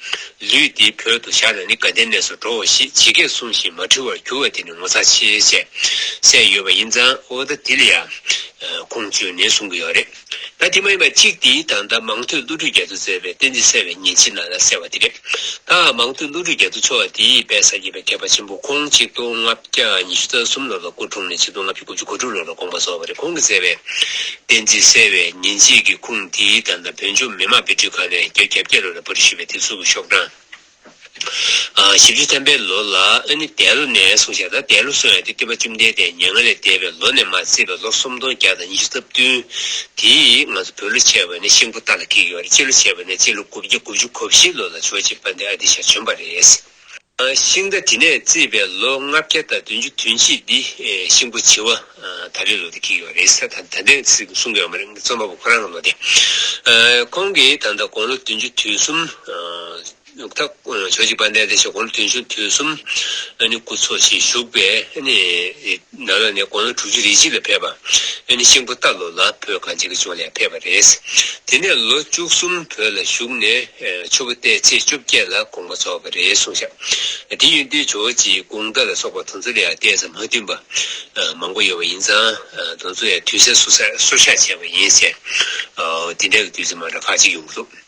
ལུས་འདི་བོད་དུ་བཞག་ན་ནི་དགའ་ལྡན་གནས་སུ་འགྲོའོ་ཞེས་ཇི་སྐད་གསུངས་བཞིན་མ་འཁྲུལ་བར་གྱུར་བ་དེ་ནི་ངོ་ཚ་ཆེ་བྱས་སྲས་ཡོད་པ་ཡིན་ཙང་ཨོ་ད་དེ་ལ་ཡ། ཁུངས་བཅོལ་ནས་གསུང་གི་ཡོད་རེད། ད་དེ་མ་ཡིན་པ་གཅིག་དེའི་དང་ད་མང་ཐོས་བློ་གྲོས་རྒྱ་མཚོས་མཛད་པའི་བསྟན་འཛིན་གསལ་བའི་ཉིན་ཕྱི་ནང་ལ་གསལ་བ་དེ་རེད། ད་འང་མང་ཐོས་ཀླུ་སྒྲུབ་རྒྱ་མཚོ་མཆོག་དེའི་དཔལ་ས་སྐྱེས་པའི་མཁས་པ་ཆེན་པོ་ཁོང་གཅིག་སྟོང་ལྔ་བརྒྱ་ཉི་ཤུ་རྩ་གསུམ་ལོར་ལ་སྐུ་འཁྲུངས་ནས་ཆིག་སྟོང་ལྔ་བརྒྱ་དགུ་བཅུ་གོ་དྲུག་ལོར་ལ་དགོངས་པ་རྫོགས་པ་རེད་ཁོང་གིས་མཛད་པའི། བསྟན་འཛིན་གསལ་བའི་ཉིན་བྱེད་ཀྱི་ཁུངས་འདི་ལྟར་ན་བོད་ལྗོངས་མི་དམངས་དཔེ་སྐྲུན་ཁང་ནས་རྒྱ་གྱ་བརྒྱད་ལོར་ལ་པོ་རི་ཞེས་པའི་དེབ་གཟུགས་ཀྱི་ཤོག་གྲངས། བཞི་བཅུ་ཐམ་པའི་ལོ་ལ་ཨ་ནི་དད་ལོ་ནས་བཟུང་ཞག་ད་དད་ལོ་སོང་ཡང་དེ་སྟོད་པ་བཅོམ་ལྡན་འདས་མྱ་ངན་ལས་འདས་པའི་ལོ་ནས་མ་བརྩིས་པའི་ལོ་སུམ་སྟོང་བརྒྱ་དང་ཉི་ཤུ་རྩ་བདུན། དེའི། བོད་ལོ་བྱེ་བ་ནི་ཤིང་བུ་ལྟར་ལ་འཁེལ་གི་བར་སྤྱི་ལོ་བྱེ་བ་ནི་སྤྱི་ལོ་དགུ་བརྒྱ་དགུ་བཅུ་གོ་བཞི་ལོ་ལ་ཆོས་བྱེད་པ་འདི་ཨ་ཏི་ཤ་བྱོན་པ་རེད། ཤིང་རྟ་དེ་ནས་བརྩིས་པའི་ལོ་ལྔ་བརྒྱ་དང་བདུན་ཅུ་དུས་ཕྱིས་འདི་ཤིང་བུ་བྱི་བ་ད་རེའི་ལོ་དེ་འཁེལ་གི་བ་རེད་ད་ད་འདི་གསུང་གི་ཨ་མ་རེད་རྩོམ་པ་པོ་ཁོ་རང་གི་ལོ་དེ། ཁོང་གིས་ད་ལྟ་དགུང་ལོ་བདུན་ཅུ་དུས་གསུམ། ནུབ་ཐ་ཆོས་ཀྱི་པ་ནས་དེ་བཞིན་དགུང་ལོ་བདུན་ཅུ་དུས་གསུམ་ཨ་ནི་སྐུ་འཚོ་ཞེས་བཞུགས་པས་ཨ་ནི་ནཱ་ལ་ནས་དགུང་ལོ་དྲུག་ཅུ་རེ་གཅིག་ལ་ཕེབས་པ་ཨ་ནི་གཤེན་པོ་རྟ་ལོ་ལ་བོད་གངས་ཅན་གྱི་ལྗོངས་ལས་ཕེབས་པ་རེད། དེ་ནས་ལོ་བཅུ་གསུམ་བོད་ལ་བཞུགས་ནས་ཆུ་བོ་བརྟན་ཚེས་བཅོ་བརྒྱད་ལ་དགོངས་པ་རྫོགས་པ་རེད་གསུངས་ཤག་འདི་ཡོན་ཏན་ཇོ་བོ་རྗེའི་དགུང་ཟླ་ལ་སོགས་པ་དང་ཚུལ་ལ་ཡང་གཏད་ས་མ་མཐུན་པ་མང་པོ་ཡོད་པ་ཡིན་ཙང་དང་ཚུལ་ཡང་དུས་གསལ་སོ་སོར་བཞག་བྱས་པ་ཡིན་ཟེར་འདི་འདྲ་གི་དུས་ཚོད་མང་དྲགས་ཁག་ཅིག་ཡོང་གི་འདུག།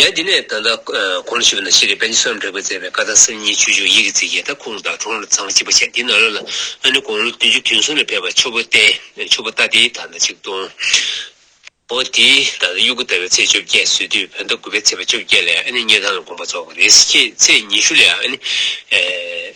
ཡང་འདི་ནས་ད་ལྟ་གོང་ལ་ཞུས་པ་ན་ཤེས་རིག་དཔལ་གྱི་སོ་ནམ་དྲེགས་པས་མཛད་པའི་བཀའ་ཐང་སེམས་ཉིད་ཆོས་འབྱུང་ཡིད་ཀྱི་རྩིས་ཀྱི་ཐ་ཁུངས་དང་གྲོང་ལ་ཚང་གཅིག་པ་བྱས་འདི་ནང་ལོགས་ལ་ཨ་ནི་དགུང་ལོ་བདུན་ཅུ་དུས་མཚུངས་ལ་ཕེབས་པ་ཆུ་བོ་བསྟན་ཆུ་བོ་རྟ་དེའི་དར་མདའ་གཅིག་བརྡུང། འོ་དེའི་ད་ལྟ་དབྱུ་གུ་ཟླ་བའི་ཚེས་བཅོ་བརྒྱད་བཟོས་དུས་བོད་ཟླ་དགུ་པའི་ཚེས་པ་བཅོ་བརྒྱད་ལས་ཨ་ནི་གཉན་ཐང་ལ་དགོངས་པ་རྫོགས་པ་རེད་ཟེར་ཁྱེད་ཚེས་ཉི་ཤུ་ལས་ཨ་ནི།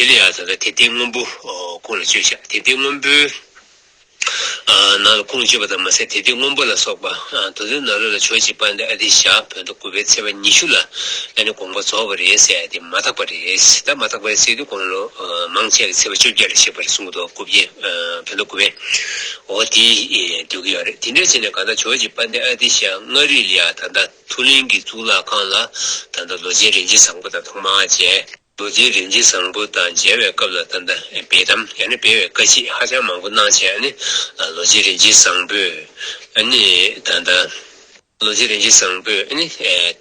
དེ་ལས་ཡང་དག་དེ་སྟེང་སྔོན་པོ་ཀུན་ལ་སྤྱོད་བྱ་དེ་སྟེང་སྔོན་པོའི་ནང་ལ་ཀུན་སྤྱོད་པ་དང་མ་ཟད་དེ་སྟེང་སྔོན་པོ་ལ་སོགས་པ་དུ་དུ་ན་རོ་ལ་ཆོས་གཅིག་སྤངས་ཏེ་ཨ་ཏི་ཤྭ་བོད་མདོ་དགུ་པའི་ཚེས་པ་ཉི་ཤུ་ལ་ཨ་ནི་དགོངས་པ་རྫོགས་པ་རེད་ཟེར་ཏེ་མ་དག་པ་རེད་ད་མ་དག་པའི་ཚིག་དེ་དགོངས་ལོ་མང་ཆད་ཀྱི་ཚེས་པ་བཅོ་བརྒྱད་ལ་གཤེགས་པ་རེད་གསུང་གི་འདུག་དགུ་བརྒྱད་བོད་མདོ་དགུ་པའི་འོ་དེ་འདོད་ཀྱི་ཡོད་རེད་དེ་འདྲ་བྱས་ནས་གང་ལྟར་ཆོས་གཅིག་སྤངས་ཏེ་ཨ་ཏི་ཤྭ་མངའ་རིས་ལ་ཡང་ད་ལྟ་ཐུ་ལིན་གྱི་གཙུག་ལག་ཁང་ལ་ད་ལྟ་ལོ་ཆེན་རིན་ཆེན་བཟང་པོ་དང་ཐོག་མར་མཇལ། རྡོ་རྗེའི་རིན་ཆེན་བཟང་པོ་དང་མཇལ་བའི་སྐབས་ལ་ད་ལྟ་འབད་དམ་ཡང་ན་སྤེལ་བའི་བཀའ་མཆིད་ཧ་ཅང་མང་པོ་གནང་བྱས་ཨ་ནི། རྡོ་རྗེ་རིན་ཆེན་བཟང་པོས་ཨ་ནི་ད་ལྟ། རྡོ་རྗེ་རིན་ཆེན་བཟང་པོས་ཨ་ནི།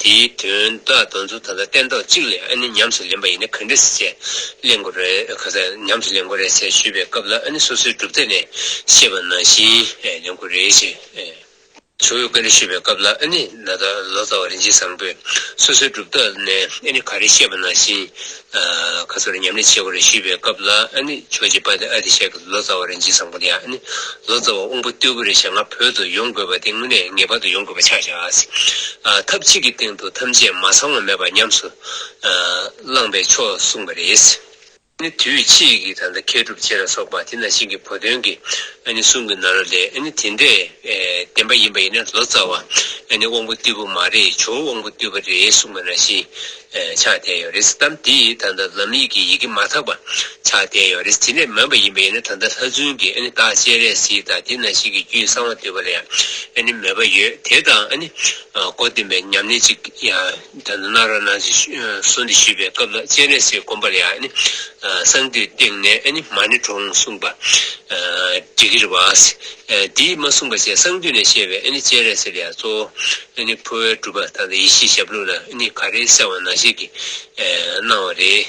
དེའི་དོན་དག་གདོན་མཚོན་ད་ལྟ་སྟན་ཐོག་གཅིག་ལས་ཨ་ནི་ཉམས་སུ་ལེན་པ་ཡིན་ན་ག་འདྲ་སྲིད་ཅེས་གླེང་དགོས་རེད་ག་ས་ཉམས་སུ་ལེན་དགོས་རེད་ཅེས་ཞུས་པའི་སྐབས་ལ་ཨ་ནི་སོ་སོའི་གྲུབ་མཐའ་ནས་ཤེས་པ་ནང་བཞིན་ལེན་དགོས་རེད་ཅེས། ཆུ་བོའི་བཀའ་འདྲི་ཞུས་པའི་སྐབས་ལ་ཨ་ནི་ན་ད་ལོ་ཙཱ་བ་རིན་ཆེན་བཟང་པོས་སོ་སོའི་སྒྲུབ་ཐབས་ནས་ཨ་ནི་ག་རེ་བཤད་པ་ནང་བཞིན་ཁ་སོ་རེ་ཉམས་ལེན་བྱེད་དགོས་རེད་ཞུས་པའི་སྐབས་ལ་ཨ་ནི་ཆོས་རྗེ་དཔལ་ལྡན་ཨ་ཏི་ཤ་གིས་ལོ་ཙཱ་བ་རིན་ཆེན་བཟང་པོ་དེའང་ཨ་ནི་ལོ་ཙཱ་བ་དབང་པོ་རྟུལ་པོ་རེད་བྱས་ང་བོད་དུ་ཡོང་དགོས་པ་དེ་དངོས་གནས་ངེས་པར་དུ་ཡོང་དགོས་པ་ཆགས་ཤག་ཐབས་གཅིག་གི་སྟེང་དུ་ཐམས་ཅད་མ་ཚང་བ་མེད་པ་ཉམས་སུ་བླངས་པས་ཆོག་གསུངས་པ་རེད། ནི་དུས་ཕྱིས་ཀྱི་ད་ལྟ་མཁས་གྲུབ་ཆེ་ལ་སོགས་པ་དེ་ན་ཞིག་གི་བུ་དོན་གྱི་གསུང་གི་ན་རོ་ལས་དེ་འདྲས་བདེན་པ་ཡིན་པ་ཡིན་ན་ལོ་ཙཱ་བ་དབང་པོ་རྟུལ་པོ་མ་རེད་ཇོ་བོ་དབང་པོ་རྟུལ་བ་རེད་གསུང་པ་ན་ཞིག་ཆགས་བསྡད་ཡོད་རེད་གཏམ་དེ་ད་ལྟ་ལམ་ཡིག་གི་ཡི་གེ་མ་དག་པ་ཆགས་བསྡད་ཡོད་རེད་དེ་འདྲས་མིན་པ་ཡིན་པ་ཡིན་ན་ད་ལྟ་ལྷ་བཙུན་གྱི་བདག་གཅེས་རེད་ཟེར་ད་དེ་ན་ཞིག་གི་རྒྱུད་གསང་བ་འདུས་པ་ལས་མོས་པ་ཡོད་དེ་དང་གོ་བདེན་པའི་ཉམས་ལེན་ཅིག་ཡང། ད་ནི་ནཱ་ར་ནཱ་ཅི་སོ་འདི་ཞུས་པའི་སྐབས་ལ་སྤྱན་རས་གཟིགས་བསྒོམ་པར་ཡང་གསང་འདུས་སྟེང་ནས་མ་ཎི་དྲོངས་གསུངས་པ། འདྲི་གིར་བ། འདིས་མ་གསུངས་པ་བཅས་གསང་འདུས་ནས་བཤད་པའི་སྤྱན་རས་གཟིགས་ལས་གཙོ་བོ་འཕོ་བའི་སྒྲུབ་པ་དང་ཡེ་ཤེས་ཞབས་ལུགས་ལ་ག་རེ་གསལ་བ་ནང་བཤད་ཀྱིས་གནང་བ་རེད།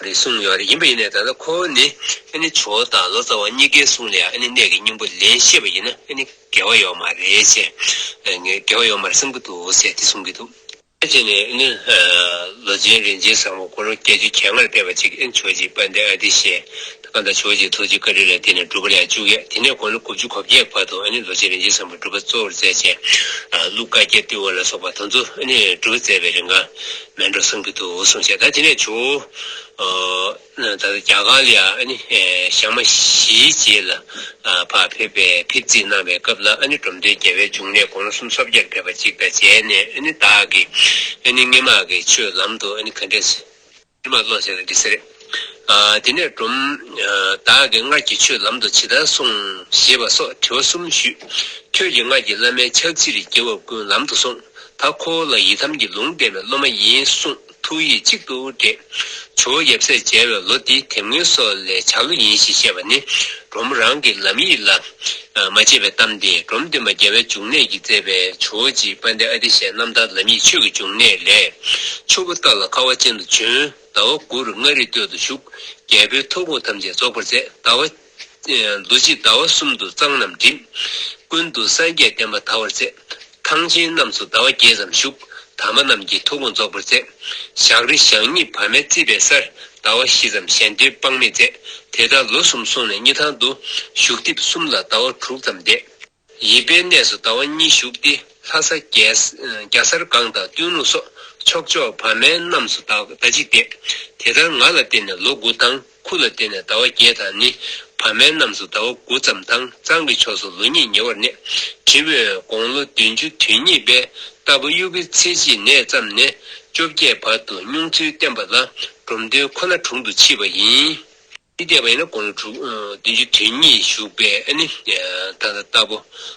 རེད་གསུངས་ཡོད་རེད་ཡིན་པ་ཡིན་ནའི་ད་ལྟ་ཁོ་བོ་ནི་ཨ་ནི་ཇོ་དང་ལོ་ཙཱ་བ་གཉིས་ཀའི་གསུང་ལས་ཨ་ནི་གནད་ཀྱི་སྙིང་པོ་ལན་ཤེས་པ་ཡིན་ན་ཨ་ནི་འགལ་བ་ཡོད་མ་རེད་ཅེས་ངས་འགལ་བ་ཡོད་མ་རེད་བསམ་གྱི་འདུག་ཟེར་ཏེ་གསུངས་ཀྱི་འདུག། ཕལ་ཆེར་ནི་ཨ་ནི་ལོ་ཆེན་རིན་ཆེན་བཟང་པོ་སྐུ་རུང་བརྒྱད་ཅུ་གྱེས་སྔར་བསྡད་པ་ཅིག་ཨ་ནི་ཇོ་ཅེས་པ་འདི་ཨ་ཏི་ཤའི་སྐར་མདའ་ཆོས་རྗེའི་ཐུགས་རྗེའི་བཀའ་དྲིན་ལས་དེ་ནས་སྒྲུབ་པ་ལས་བཅུ་བརྒྱད་དེ་ནས་དགུང་ལོ་དགུ་བཅུ་གོ་བརྒྱད་བར་དུ་ཨ་ནི་རྡོ་རྗེ་རིན་ཆེན་བཟང་པོས་སྒྲུབ་པ་གཙོ་བོར་མཛད་ཅིང། ཀླུ་བཀའ་རྒྱས་བཏུལ་བ་ལ་སོགས་པ་དང་དུ་ཨ་ནི་སྒྲུབ་པ་མཛད་པའི་རིང་ཀ་མན་འགྲོ་གསུམ་གྱི་ཐུགས་བསྲུང་བྱས་ད་དེ་ནས་བྱུང། ད་ལྟ་རྒྱ་གར་ལ་ཨ་ནི་ཞག་མ་བཞིའི་རྗེས་ལ་བར་ཕེབས་པས་ཕེབས་བརྩིས་གནང་བའི་སྐབས་ལ་ཨ་ནི་འབྲོམ་སྟོན་རྒྱལ་བའི་འབྱུང་གནས་དགུང་ལོ་གསུམ་སོ་བརྒྱར་ཕེབས་པ་གཅིག་དང་མཇལ་ནས་ཨ་ནི་བདག་གིས་ཨ་ནི་སྔེ་དམག་གི་ཆོས་ལམ་དུ་ཨ་ནི་ག་འདྲས། ཕྱི་མ་བློ་ཟད་ནས་འདི་ཟེར། དེ་ནས་སྒྲོམ། བདག་གིས་སྔར་གྱི་ཆོས་ལམ་དུ་ཇི་ལྟར་སོང། ཞེས་པ་སོགས་དྲི་བ་གསུམ་ཞུས། ཁྱོད་ཀྱིས་སྔར་གྱི་བླ་མའི་ཕྱག་ཕྱིར་རྒྱལ་བ་ཀུན་ལམ་དུ་སོང། ད་ཁོ་བོ་ལ་ཡི་དམ་གྱི་ལུང་བསྟན་པའི་སློབ་མ་ཡིན་གསུངས་ཐུགས་ཡིད་གཅིག་ཏུ་འདྲེས། ཇོ་བོ་ཡབ་སྲས་མཇལ་བའི་ལོ་འདི་དེབ་སྔོན་སོགས་ལས་བྱ་ལོ་ཡིན་ཞེས་བཤད་པ་ནི། འབྲོམ་རང་གི་ལམ་ཡིག་ལ་མ་དཔྱད་པའི་གཏམ་དེ་འབྲོམ་སྟོན་པ་རྒྱལ་བའི་འབྱུང་གནས་ཀྱིས་མཛད་པའི་ཇོ་བྱི་དཔལ་ལྡན་ཨ་ཏི་ཤའི་རྣམ་ཐར་ལམ་ཡིག་ཆོས་ཀྱི་འབྱུང་གནས་ལས། ཆུ་བོ་སྟག་ལ་ཁ་བ་ཅན་དུ་བྱོན། ཟླ་བ་དགུ་རུ་མངའ་རིས་སྟོད་དུ་བཞུགས། རྒྱལ་པོའི་ཐུགས་དགོངས་ཐམས་ཅད་རྫོགས་པར་མཛད། ཟླ་བ། རྡོ་རྗེས་ཟླ་བ་གསུམ་དུ་གཙང་རྣམས་བསྒྲིམས། ཀུན་ཏུ་སངས་རྒྱས་བསྟན་པ་དར་བར་མཛད། ཐང་ཆེན་རྣམས་སུ་ཟླ་བ་བརྒྱད་ཙམ་བཞུགས། དམ་པ་རྣམས་ཀྱིས་ཐུགས་དགོངས་རྫོགས་པར་མཛད། ཞག་རེ་ཞག་གཉིས་བར་མའི་རྩིས་པའི་སར། ཟླ་བ་བཞི་ཙམ་གཞན་སྡོད་དཔག་མེད་མཛད། དེ་ལྟར་ལོ་གསུམ་སོང་ནས་གཉིས་ཐང་དུ། བཞུགས་ཐེབས་གསུམ་ལ་ཟླ་བ་དྲུག་ཙམ་འདས། ཡིད་པའི་གནས་སུ་ཟླ་བ་གཉིས་བཞུགས་ཏེ། ལྷ་ས། རྒྱ་སར་སྒང་དང་སྟོན་ལུང་སོགས་ཕྱོགས་ཕྱོགས་བར་མའི་རྣམས་སུ་ཟླ་གཅིག་འདས། དེ་ལྟར་ང་ལ་བརྟེན་ནས་ལོ་དགུ་ཐང། ཁུ་ལ་བརྟེན་ནས་ཟླ་བ་བརྒྱད་དང་ནི། བར་མའི་རྣམས་སུ་ཟླ་བ་དགུ་ཙམ་དང་གཙང་གི་ཕྱོགས་སུ་ལོ་གཉིས་ཉེ་བར་གནས། དྲི་བའི་དགོངས་ལོ་བདུན་ཅུ་དུས་གཉིས་པའི་རྟ་ཕོ་དབྱུག་གི་ཚེས་གཅིག་ནས་བརྩམས་ནས་བཅོ་བརྒྱད་བར་དུ་སྨྱུང་ཚུལ་བསྟན་པ་ལ་འབྲོམ་སྟོན་ཁོ་ན་དྲུང་དུ་མཆིས་པ་ཡིན། འདི་འདས་པ་ཡིན་ན་དགོངས་ལོ་དྲུག་བདུན་ཅུ་དུས་གཉིས་བཞུགས་པས་ནི་ད་ལྟ་རྟ་ཕོ་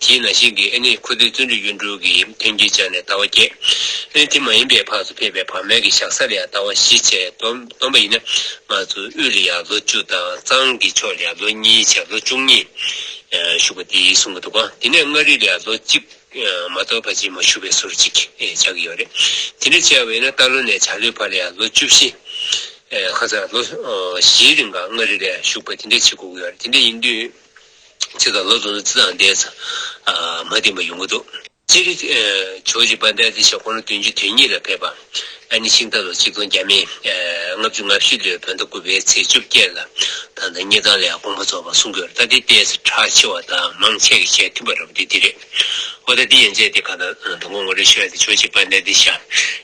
དེས་ན་ཤིང་གི་ཨེ་ནི་ཁུ་ཏའི་བརྩོན་འགྲུས་གཡུ་འབྲུག་གི་ཐོན་སྐྱེད་ཆགས་ནས་ཟླ་བ་བརྒྱད། ཨེ་དེ་མ་ཡིན་པའི་བར་དུ་ཕེབས་པའི་བར་མའི་གི་ཞག་ས་ལ་ཡང་ཟླ་བ་བཞི་ཆད་དོ་སྡོམ་པ་ཡིན་ན། ང་ཚོ་དབུས་ལ་ཡང་ལོ་བཅུ་དང་གཙང་གི་ཕྱོགས་ལ་ཡང་ལོ་གཉིས་ཆད་ལོ་བཅུ་གཉིས། བཞུགས་པ་འདི་གསུངས་པ་འདུག་ག་དེ་ནས་མངའ་རིས་ལ་ཡང་ལོ་གཅིག། མ་གཏོགས་ཕ་ཆེན་མོ་བཞུགས་པའི་ཟུར་གཅིག་ཆགས་ཀྱི་ཡོད་རེད། དེ་འདྲ་བྱས་པ་ཡིན་ན་སྟག་ལོ་ནས་བྱ་ལོའི་བར་ལ་ཡང་ལོ་བཅུ་བཞི། ཁ་སང་ལོ་བཞིའི་རིང་ག་མངའ་རིས་ལ་བཞུགས་པ་དེ་འདྲ་བྱེད་དགོས་ཀྱི་ཡོད་རེད་དེ་འདྲ་ཡིན་དུས། ཚིག་དང་ལོ་དུ་ནི་ཙི་དང་ཟླས། མ་བསྟན་པ་ཡོང་གི་འདུག། སྤྱིར། ཆོས་རྗེ་དཔལ་ལྡན་སྲིད་ཞབས་ཁོང་ནི་བདུན་ཅུ་དོན་གཉིས་ལ་ཕེབས་པ། ཨ་ནི་ཤིང་རྟ་ལོ་གཅིག་སྟོང་བརྒྱ་མེད། ལྔ་བཅུ་ང་བཞི་ལོའི་བོད་ཟླ་དགུ་པའི་ཚེས་བཅོ་བརྒྱད་ལ། ད་ལྟ་སྙེ་ཐང་ལའི་དགོངས་པ་རྫོགས་པར་གསུང་དགོས་ར་ལྟ་སྟེ་དཔལ་ཚེ་གྲགས་ཆེ་བ་དང་མང་ཆེ་གི་ཞལ་མཐུན་པ་ར་བ་དེ་འདི་རེད། ཨོ་ད་འདི་ཡན་ཆད་དེ་ག་ད་དུ་ངོ་ངོ་རེ་ཤོད་དེ་ཕྱོགས་གཅིག་པ་གནད་དེ་བཞག་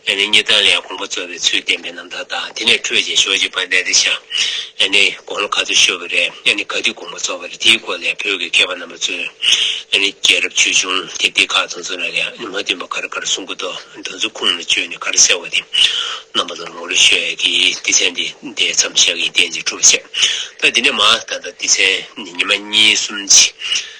ཡ་ནི་གཉིས་དང་ལས་གོང་བུ་རྩོལ་བའི་ཚུལ་བསྟན་པའི་རྣམ་ཐར་དང་དེ་ནས་འཕྲོས་ཀྱིན་ཕྱོགས་གཅིག་པ་གནད་དེ་བཞག་ཡ་ནི་དགོངས་ལོ་ག་ཚོད་ཤོད་པ་རེད་ཡ་ནི་ག་དུས་གོང་བུ་རྩོལ་བ་རེད་དེའི་སྐོར་ལས་བོད་ཀྱི་མཁས་པ་རྣམ་པ་ཚོས་ཡ་ནི་རྒྱལ་རབས་ཆོས་འབྱུང་དེ་འདི་ག་དུ་འཛོམས་ན་ཡ་ནི་མ་བསྟུན་པ་ག་རེ་ག་རེ་གསུང་གི་འདུག་འདི་ཚོ་ཁུངས་མི་བཅོལ་ནས་ག་རེ་གསལ་བ་དེ་རྣམ་པ་ལོར་ངོ་རེ་ཤོད་ཡ་དེ་སྡེ་ཚན་དེ་འདས་མཚམས་བཞག་ཡིད་བརྟན་ཅིག་གྲུབ་བྱས་ད་དེ་ནས་མ་ད་ད་སྡེ་ཚན་ནི་ཉི་མ་གཉིས་གསུམ་གྱི་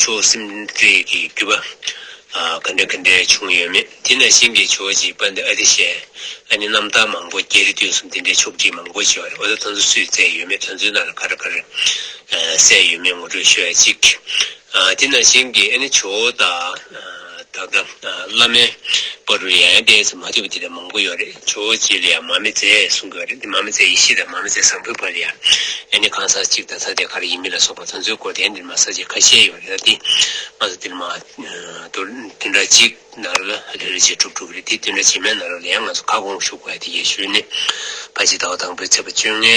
ཆོས་སེམས་འགྲེལ་གྱི་བརྒྱུད་པ། ག་འདྲ་ག་འདྲ་བྱུང་ཡོད་མེད་དེ་ནས་གཤེན་གྱི་ཆོས་རྗེའི་དཔའ་འདི་ཨ་ཏི་ཤས་ཨ་ནི་རྣམ་དག་མང་པོ་གྱེར་དུས་སུ་འདི་འདྲའི་ཆོག་སྒྲིག་མང་པོ་བྱས་པ་རེད་འོ་ད་དོན་ཚོ་སུས་བཙལ་ཡོད་མེད་དོན་ཚོའི་ནང་ལ་ག་རེ་ག་རེ་གསལ་ཡོད་མེད་ངོ་སྤྲོད་ཞུ་ཡ་གཅིག། དེ་ནས་གཤེན་གྱིས་ཨ་ནི་ཆོས་དང། ད་ལྟ་བླ་མའི་བ་རུ་ཡང་ཡང་བལྟས་ཚེ་མ་ཐོས་པ་དེ་འདྲ་མང་པོ་ཡོད་རེད་ཇོ་བོ་རྗེ་ལ་ཡང་མ་མི་མཛད་གསུང་གི་རེད་དེ་མ་མི་མཛད་ཡེ་ཤེས་དང་མ་མི་མཛད་བཟང་པོའི་བར་ཡང་ཡང་ནི་གང་ཟག་གཅིག་དང་ས་དེ་ག་རེ་ཡིན་མིན་ལ་སོགས་པ་དོན་ཚོད་སྐོར་དེ་འདྲ་མ་ཟག་ཅིག་ཁ་ཤས་ཡོད་རེད་ད་དེ་སྔ་སོ་དེ་མ་དོར་དེ་འདྲ་གཅིག་ན་རོ་ལ་རེ་རེ་བྱས་གྲུབ་འགྲོ་གི་རེད་དེ་དོན་འདྲ་བྱེད་མེད་ན་རོ་ལ་ཡང་ང་ཚོ་ཁ་སྐོང་བཞུགས་པ་ཡ་དེ་ཡེ་ཤུའི་ནི་བ་ཇི་ལྟ་བ་དང་པོའི་ཚེ་བ་བཅོ་ལྔའི